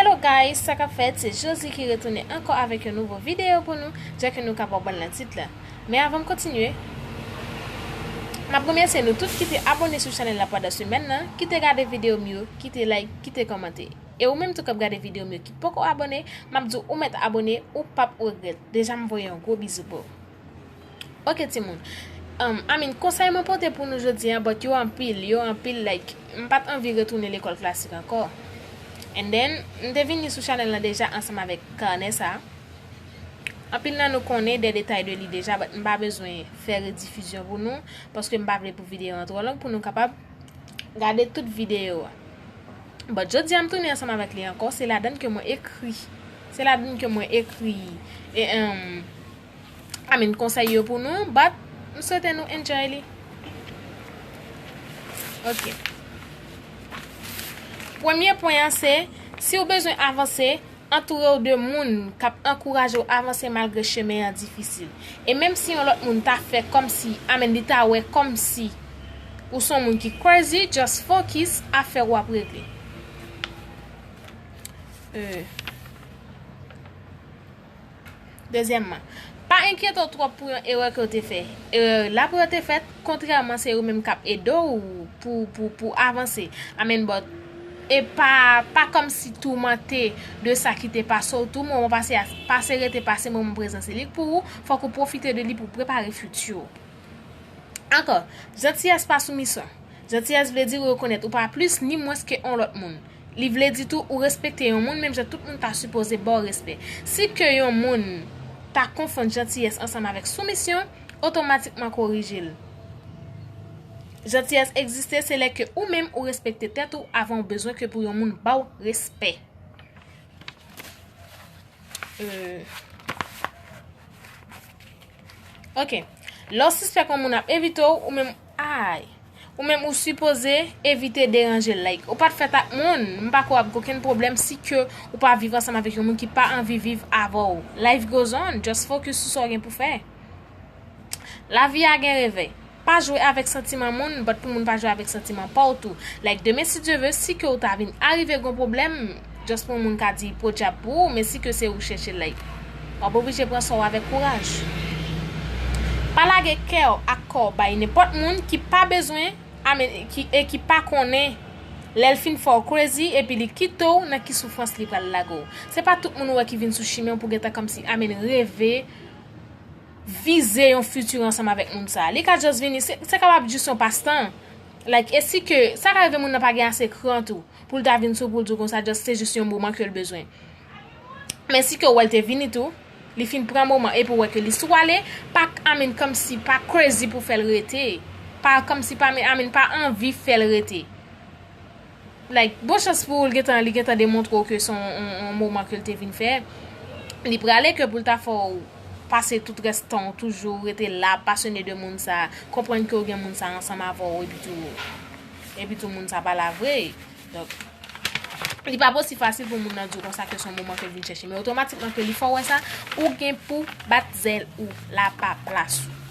Hello guys sa kap fèt se Josie ki retounen ankò avèk yon nouvo video pou nou jan ke nou kapab wèl nan tit la men avanm kontinye map remèsye nou tout kite abone sou chanèl la pandan semèn nan kite gade videom yo kite like kite kòmante e ou menm tou kap gade videom yo ki poko abone map diw ou mèt abone ou pap regrèt deja m voye yon gwo bizou boo. Ok timoun I mean konsèy mwen pote pou nou jodi a but yo anpil yo anpil like m pat anvi retounen lekòl klasik ankò and then m te vini sou chanèl lan deja ansanm avèk kanè sa anpil nan nou konnen de detay de li deja but m pa bezwen fè redifizyon pou nou paske m pa vle pou videyo an twò long pou nou kapab gade tout videyo a but jodi a m tounen ansanm avèk li ankò se ladann ke mwen ekri se ladann ke mwen ekri eemm I mean konsèy yo pou nou but m swete nou enjoy li ok premye pwen an se si w bezwen avanse antoure w de moun k ap ankouraje w avanse malgre chemen an difisil e menm si yon lòt moun ta fè kòmsi I mean li ta wè kòmsi ou son moun ki crazy just focus afè w ap regle. Dezyèmman, pa enkyete w twòp pou yon erè ke w te fè. Erè yo la pou yo te fèt, kontrèman se yo menm k ap ede w pou w avanse. Amen but e pa pa kòmsi toumante de sa ki te pase w tou moman pase a pase rete pase moman prezan se li k pou ou fòk ou pwofite de li pou w prepare future w. Ankò, Zantiyès pa soumisyon. Zantiyès vle di ou rekonèt ou pa plis ni mwens ke on lòt moun. Li vle di tou ou respekte yon moun menm jan tout moun ta sipoze ba w respè. Si ke yon moun ta konfonn jantiyès ansanm avèk soumisyon, otomatikman korije l. Jantiyès egziste se lè ke ou menm ou respekte tèt ou avan ou bezwen ke pou yon moun ba w respè. Ok lè w sispèk yon moun ap evite w ou menm ayy ou menm ou sipoze evite deranje l like ou pat fèt ak moun m pa kwè w ap gen okenn pwoblèm si ke ou pa viv ansanm avèk yon moun ki pa anvi viv avè w life goes on just focus sou sa w gen pou fè lavi a gen revè. Pa jwe avèk santiman moun but pou moun pa jwe avèk santiman paw tou like demen si Dye ve si ke ou ta vin arive gen yon pwoblèm just pou yon moun ka di podyab pou ou men si ke se ou chèche like wap oblije pran sa w avèk kouraj pa lage kèw ak kòw bay nenpòt moun ki pa bezwen e ki pa konnen lèl fin fè w crazy epi li kite w nan ki soufrans li pral lage w se pa tout moun ou wè ki vin sou chimen w pou gentan kòmsi amen reve vize yon futur ansanm avèk moun sa. Li ka just vini, se kapab just yon passe temps. Like, e si ke, sa ka rive moun nan pa gen ase kran tou, pou l ta vin sou ou pou l di w konsa just se just yon moman ke l bezwen. Men si ke ou wè l te vini tou, li fin pran moman epi ou wè ke li sou ale, pa, I mean, kòmsi, pa crazy pou fè l rete. Pa, kòmsi pa, I mean, pa anvi fè l rete. Like, bon chans pou ou l gentan li gentan demontre w ke se yon moman ke l te vin fè. Li prale ke pou l ta fè w pase tout rès tan w toujou rete la, pasyone de moun sa, konprann ke w gen moun sa ansanm avè w epitou epitou moun sa pa la vre. Donk, li pa p osi fasil pou moun nan di w konsa ke se yon moman ke l vin chèche. Men otomatikman ke li fè w wè sa, ou gen pou bat zèl ou la pa plas ou.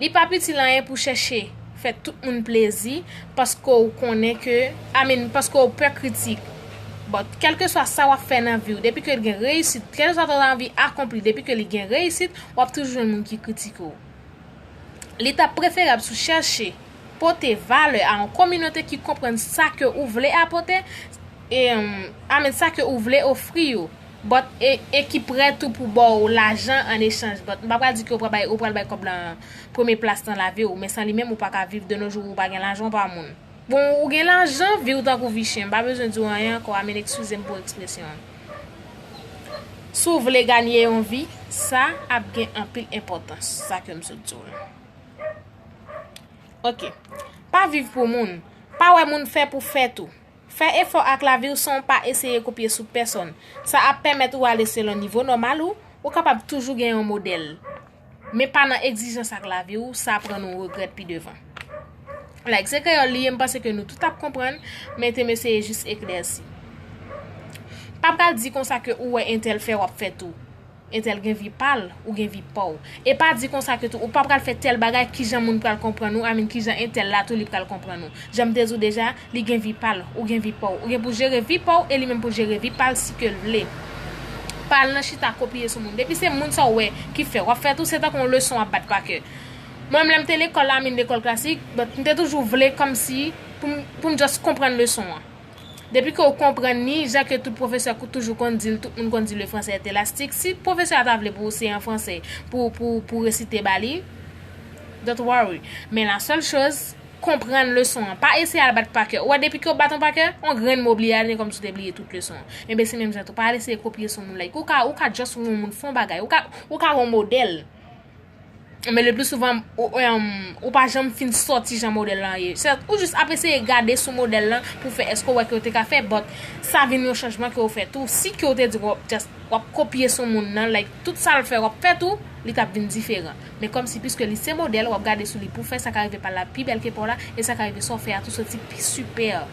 Li pap itil anyen pou chèche fè tout moun plezi paske ou konnen ke I mean paske ou pè kritik but kèlkeswa sa wap fè nan viw depi ke li gen reyisit kèlkeswa sa ou ta anvi akonpli depi ke li gen reyisit wap toujou jwenn moun ki kritike ou li tap preferab si w chèche pote valè a yon kominote ki konprann sa ke ou vle apote I mean sa ke ou vle ofri yo. But e e ki prè tou pou baw lajan an echanj but m pa pral di ke ou pral bay ou pral bay kòb lan premye plas nan laviw men san li menm ou pa ka viv de no jou ou pa gen lajan ou pa moun bon ou gen lajan viw tankou vi chen m pa bezwen diw anyen ankò amen ekskusem pou ekspresyon an si w vle ganye yon vi sa ap gen anpil enpòtans sa ke m sot diw lan ok pa viv pou moun pa wè moun fè pou fè tou. Fè efò ak lavi w san w pa eseye kopye sou pèsonn. Sa ap pèmèt ou ale selon nivo nòmal ou, ou kapab toujou gen yon modèl. Men pa nan egzijans ak lavi w, sa pran nou regrèt pi devan. Like se kreyòl li ye m panse ke nou tout ap konprann, men te m eseye jis eklèsi. Pa pral di konsa ke ou wè entèl fè w ap fè tou. Entèl gen vi pa l, ou gen vi pa w. E pa di konsa ke tou ou pa pral fè tèl bagay kijan moun pral konprann ou, I mean kijan entèl la tou li pral konprann ou. Jan m te di w deja, li gen vi pa l, ou gen vi pa w. Ou gen pou jere vi pa w e li menm pou l jere vi pa l si ke l vle. Pa al nan chita kopye sou moun. Depi se moun sa w wè ki fè, w ap fè tou se tankou yon leson w ap bat pa kè. Mwen menm lè m te lekòl, I mean lekòl klasik, but m te toujou vle kòmsi pou m pou m just konprann leson an. Depi ke ou konprann li, jan ke tout pwofesè toujou konn di l, tout moun konn di le français est elastique, si pwofesè a ta vle pou ou se an franse pou resite ba li, don't worry. Men la seule chose, konprann leson an. Pa eseye al bat pa kè. Ou wè depi ke ou bat on pa kè, on grenn mo bliye al, se kòmsi ou te bliye tout leson an. Enben se menm jan tou, pa al eseye kopye sou moun like. Ou ka just wè on moun fè on bagay, ou ka wè on modèl. Men le pli souvan ou pa janm fin soti jan model lan ye. Se ou jis ap eseye gade sou model lan pou fè eske ou wè ke ou te ka fè but sa vin yon chanjman ke ou fè tou. Si ke ou te di w ap kopye sou moun nan like tout sa l fè w ap fè tou li t ap vin diferan. Men kòm si piske li se model w ap gade sou li pou fè sa ka rive pa la pi bèl ke pa w la e sa ka rive sa w fè a tou soti pi super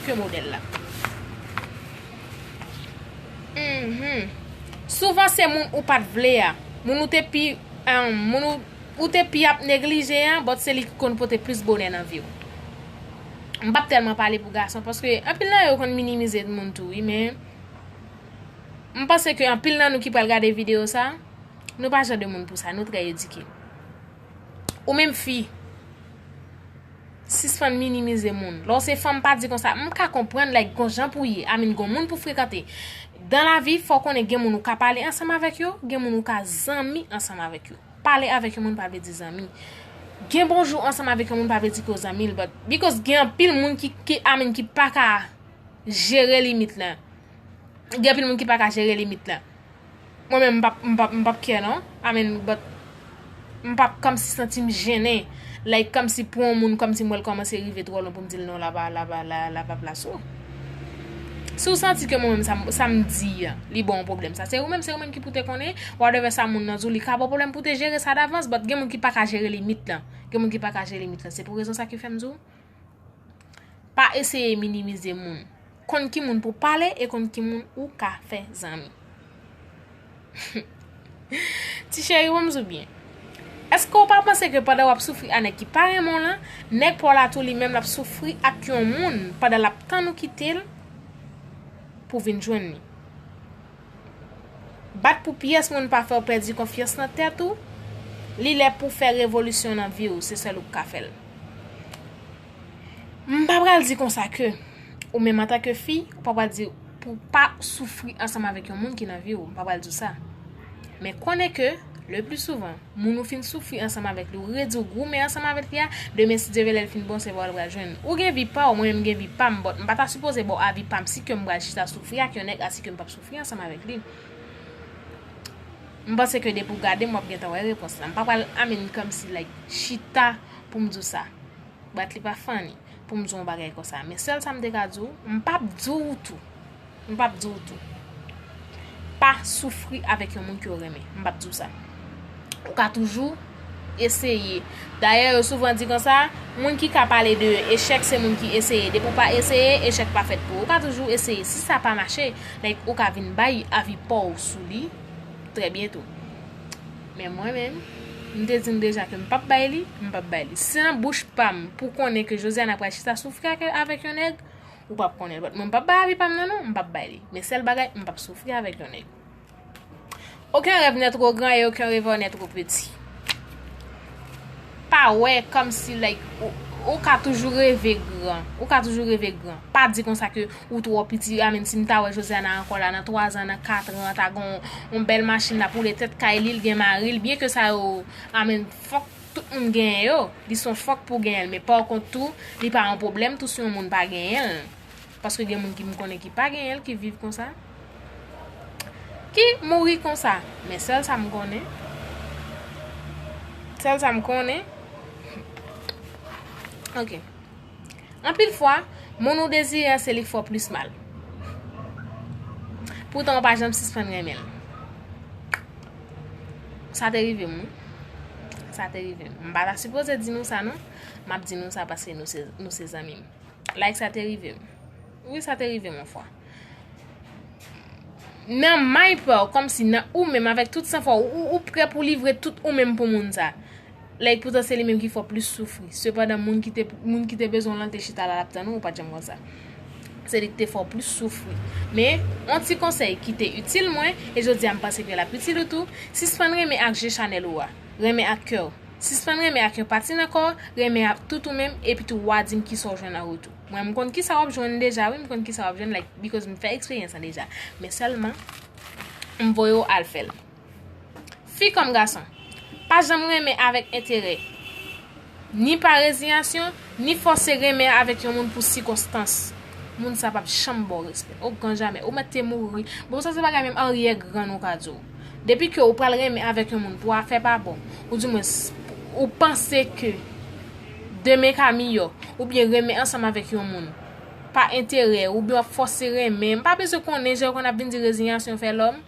ke model la. Souvan se moun ou pat vle a, moun ou te pi moun ou te pi ap neglije an but se li ki konn pote plis bonè nan viw. M pap tèlman pale pou gason paske anpil nan yo konn minimize moun tou wi men m panse ke anpil nan nou ki pral gade video sa nou pa jan de moun pou sa nou trè edike. Ou menm fi. Sispann minimize moun. Lè w se fanm pa di konsa. M ka konprann like gon jan pou ye. I mean gon moun pou frekante. Dan la vi fò w konnen gen moun ou ka pale ansanm avèk yo, gen moun ou ka zanmi ansanm avèk yo. Pale avèk yon moun pa vle di zanmi. Gen bonjou ansanm avèk yon moun pa vle di ke w zanmi l but because gen anpil moun ki ki i mean ki pa ka jere limit lan. Gen anpil moun ki pa ka jere limit lan. Mwen menm m pap m pap care non I mean but m pap kòmsi santi m jennen like kòmsi pou yon moun kòmsi m wè l kòmanse rive twò lwen pou m di l non la la pa plas ou. Si w santi ke mwen menm sa m di an li ba w pwoblèm sa se ou menm se ou menm ki pou te konnen whatever sa moun nan di w li ka ba w pwoblèm pou w te jere sa davans but gen moun ki pa ka jere limit lan gen moun ki pa ka jere limit lan se pou rezon sa ki fè m di w Pa eseye minimize moun. Konn ki moun pou pale e konn ki moun ou ka fè zanmi. Ti cheri wèm sou byen. Eske ou pa panse ke pandan wap soufri a nèg ki pa renmen w lan, nèg pa w la tou li menm lap soufri ak yon moun pandan lap tann ou kite l pou vin jwenn li. Bat pou pyès moun pa fèw pèdi konfyans nan tèt ou, li lè pouw fè revolisyon nan viw, se sèl ou k ka fèl. M pa pral di konsa ke ou menm antanke fi, ou pa pral di pou pa soufri ansanm avèk yon moun ki nan viw, m pa pral diw sa. Men konnen ke le pli souvan, moun ou fin soufri ansanm avèk li ou redi ou goumen ansanm avèk li a demen si Dye vle lèl fin bon se vwa ou pral jwenn ou gen vi paw mwen menm mgen vi pam but m pa ta sipoze baw avi pam si kem pral chita soufri ak yon nèg asi kem pap soufri ansanm avèk li m panse ke depi ou gadem wap gentan wè repons la m pa pral amèn kòmsi like chita poum diw sa but li pa funny poum diw yon bagay konsa men sèl sam te ka diw m pap diw tou M pap di w tou. Pa soufri avèk yon moun ke w renmen. M pap di w sa. Ou ka toujou eseye. Dayè yo souvan di konsa, moun ki ka pale de echèk se moun ki eseye. Depi w pa eseye, echèk pa fèt pou ou. Ou ka toujou eseye. Si sa pa mache, like ou ka vin bay avi pa w sou li trè byento. Men mwen menm, m te di nou deja ke m pap bay li, m pap bay li. Si se nan bouch pa m pou konnen ke Josiana pral chita soufri avèk yon nèg, Ou pap konnen l. But mwen pap bay avi pa m nan non. M pap bay li. Men sèl bagay, m pap soufri avèk yon nèg. Oken rèv nè two gran e oken revè w nè two peti. Pa wè kòm si like ou ka toujou reve gran. Ou ka toujou reve gran. Pa di konsa ke ou two piti. A men si m ta wè Josiana ankò la nan 3 zan, nan 4 ran, ta gon yon bèl machin l ap woule tèt kay li, l gen mari l. Byen ke sa yo a men fòk. Tout moun genyen yo, li son fòk pou genyenl men pa w kont tou li pa yon pwoblèm tou si yon moun pa genyenl paske gen moun ki m konnen ki pa genyenl ki viv konsa ki mouri konsa men sèl sa m konnen sèl sa m konnen ok. Anpil fwa, moun ou dezire an se li k fè w plis mal. Poutan ou pa janm sispann renmen l. Sa te rive m wi. Sa te rive m. M pa ta sipoze di nou sa non. M ap di nou sa paske nou se zanmi m. Like sa te rive m. Wi sa te rive m yon fwa. Nan may pa w, kòmsi nan ou menm avèk tout san fwa w, ou prè pou w livre tout ou menm pou moun sa. Lè poutan se li menm ki fè w plis soufri. Sepandan moun ki te moun ki te bezwen w lan te chita la lap tann ou, ou pat janm konsa. Se li ki te fè w plis soufri. Men, on ti konsèy ki te itil mwen, e jodi a m panse ke lap itil ou tou, sispann renmen ak je chanèl ou a. Renmen ak kè w. Sispann renmen ak yon pati nan kò w, renmen ak tout ou menm, epitou wa di m kisa w jwenn an retou. Mwen m konn kisa wap jwenn deja wi, m konn kisa wap jwenn like because m fè eksperyans lan deja. Men sèlman, m voye w al fè l. Fi kòm gason, pa janm renmen avèk enterè, ni pa reziyasyon, ni fòse renmen avèk yon moun pou sikonstans. Moun sa pap janm ba w respè. O gran jamè, ou mèt te mouri. Bon, sa se bagay menm aryè grann ou ka di w. Depi ke ou pral renmen avèk yon moun pou afè pa bon, ou di mwens, ou panse ke demen ka miyò, oubyen renmen ansanm avèk yon moun, pa enterè, oubyen w ap fòse renmen, m pa bezwen konnen jan yo konn ap vin di reziyasyon fè lòm.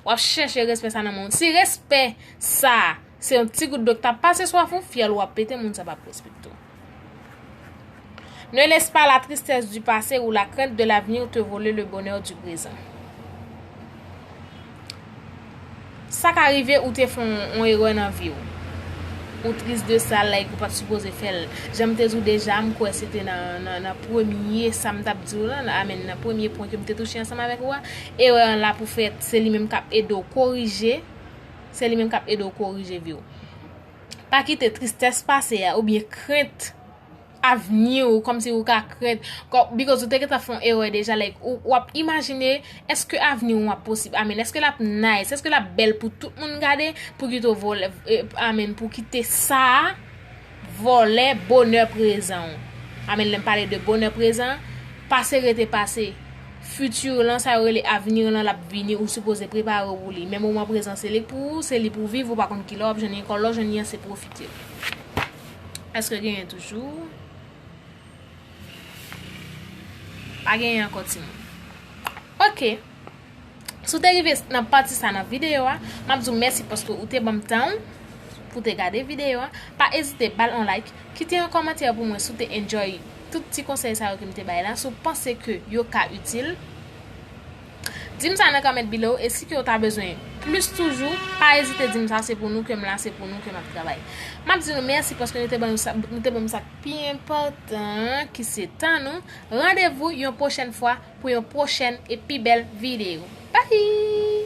Wap chèche respè sa nan moun. Si respè sa, se yon ti gout dlo k tap pase swaf ou, fyèl ou ap pete moun sa pap respekte w. Ne laisse pas la tristesse du passé ou la crainte de l'avenir te voler le bonheur du présent. Sa ka rive ou te fon on erè nan viw. Ou tris de sa like ou pat sipoze fèl. Janm te diw deja m kwè se te nan premye sam tap diw lan, amen nan premye pwen kem te touche ansanm avèk ou a, erè an la pou fèt se li menm kap ede w korije, se li menm kap ede w korije viw. Pa kite tristès pase a oubyen krent. avni ou kòmsi ou ka krent because ou te gentan fon erè deja like ou wap imajine eske avni ou ap posib amen eske lap nice eske lap bèl pou tout moun gade pou kite vòlè amen pou kite sa vòlè bonè prezan ou amen lèm pale de bonè prezan pase rete pase fiti ou lan sa yo rele avni ou lan lap vini ou sipoze prepare ou pou li men moman prezan se li pou ou se li pou viv ou pa konn kilè wap jwenn li ankò lè w jwenn li an se pwofite. Eske genyen toujou? Pa genyen anko ti moun. Ok. Si w te rive nan pati sa nan videyo a, m ap di w mèsi paske ou te banm tan ou pou te gade videyo a. Pa ezite bal on like, kite yon kòmantè pou mwen si w te enjoy tout ti konsèy sa yo ke m te bay la, si w panse ke yo ka itil. Dim sa nan comment below e si kew ta bezwen plis toujou pa ezite dim sa se pou nou kem la se pou nou ke map travay. Map di nou mèsi paske nou te ban nou te banm sak pi enpòtan an ki se tan nou. Randevou yon pwochèn fwa pou yon pwochèn e pi bèl video. Bye!